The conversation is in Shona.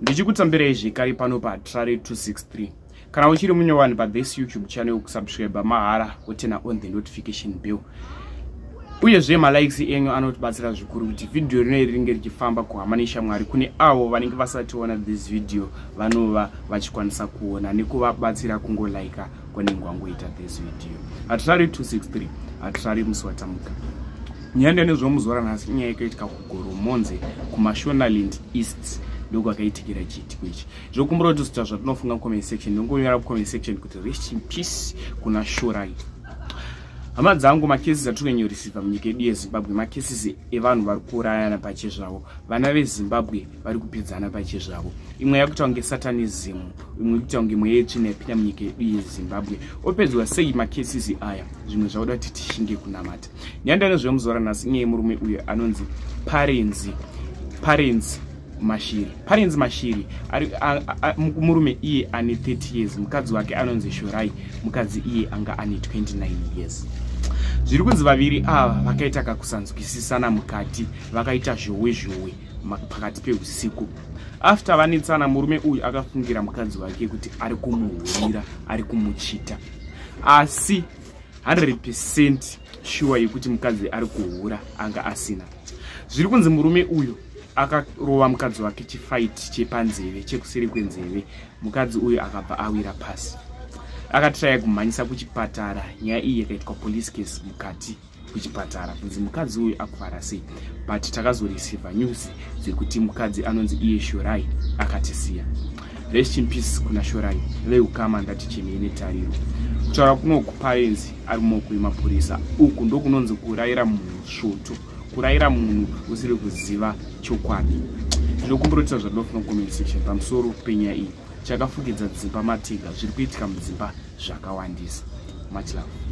ndichikutambirai zvekare pano patrare 263 kana uchiri mumwe vanhu pathis youtube channel kusubscribe mahara wotena on the notification bill uyezve malikes enyu anotibatsira zvikuru kuti vhidhiyo rino iri ringe richifamba kuhama neshamwari kune avo vanenge vasationa this video vanova vachikwanisa kuona nekuvabatsira kungolaika kwanenge wangoita this video hatirari 263 hatirari musi watamuka nyaya ndene zvomuzoora nhasi inyaya yekaitika ku Goromonzi kuMashonaland East ndokwakaitikira chiitiko ichi zvokumbura kuti zita zvatinofunga mucomment section ndongonyora mucomment section kuti rest in peace kuna shurai hama dzangu makesisi atiri kunyanyorisiva munyika yedu yezimbabwe makesisi evanhu vari kuurayana pache zvavo vana vezimbabwe vari kupedzana pache zvavo imwe yakuita kunge satanism imwe ikuita kunge mweya yetsvina yapinda munyika yedu yezimbabwe opedzwa sei makesisi aya zvimwe zvakuda kuti tishinge kunamata nyanda anozviva muzora nhasi inyeye murume uyo anonzi parenzi parenzi mashiri parenzi mashiri murume iye ane 30 years mukadzi wake anonzi shorai mukadzi iye anga ane 29 years zviri kunzi vaviri ava vakaita kakusanzwisisana mukati vakaita zhowe zhowe pakati peusiku after vanetsana murume uyu akafungira mukadzi wake kuti ari kumuhurira ari kumuchita asi 100 percent shuwa yekuti mukadzi ari kuhura anga asina zviri kunzi murume uyu akarova mukadzi wake chifaiti chepanzeve chekuseri kwenzeve mukadzi uyu akabva awira pasi akatiraya kumhanyisa kuchipatara nyaya iyi yakaitwa police case mukati kuchipatara kunzi mukadzi uyu akuvara sei but takazoreceiva news dzekuti mukadzi anonzi iye shorai akatisiya rest in peace kuna shorai veukama ndati chemei netariro kutaura kunoku parenzi ari mumaoko emapurisa uku ndokunonzi kurayira munhu svoto kurayira munhu usiri kuziva chokwadi ndinokumburotiza zvadof nocoment section pamusoro penyaya iyi chakafukidza dzimba matiga zviri kuitika mudzimba zvakawandisa much love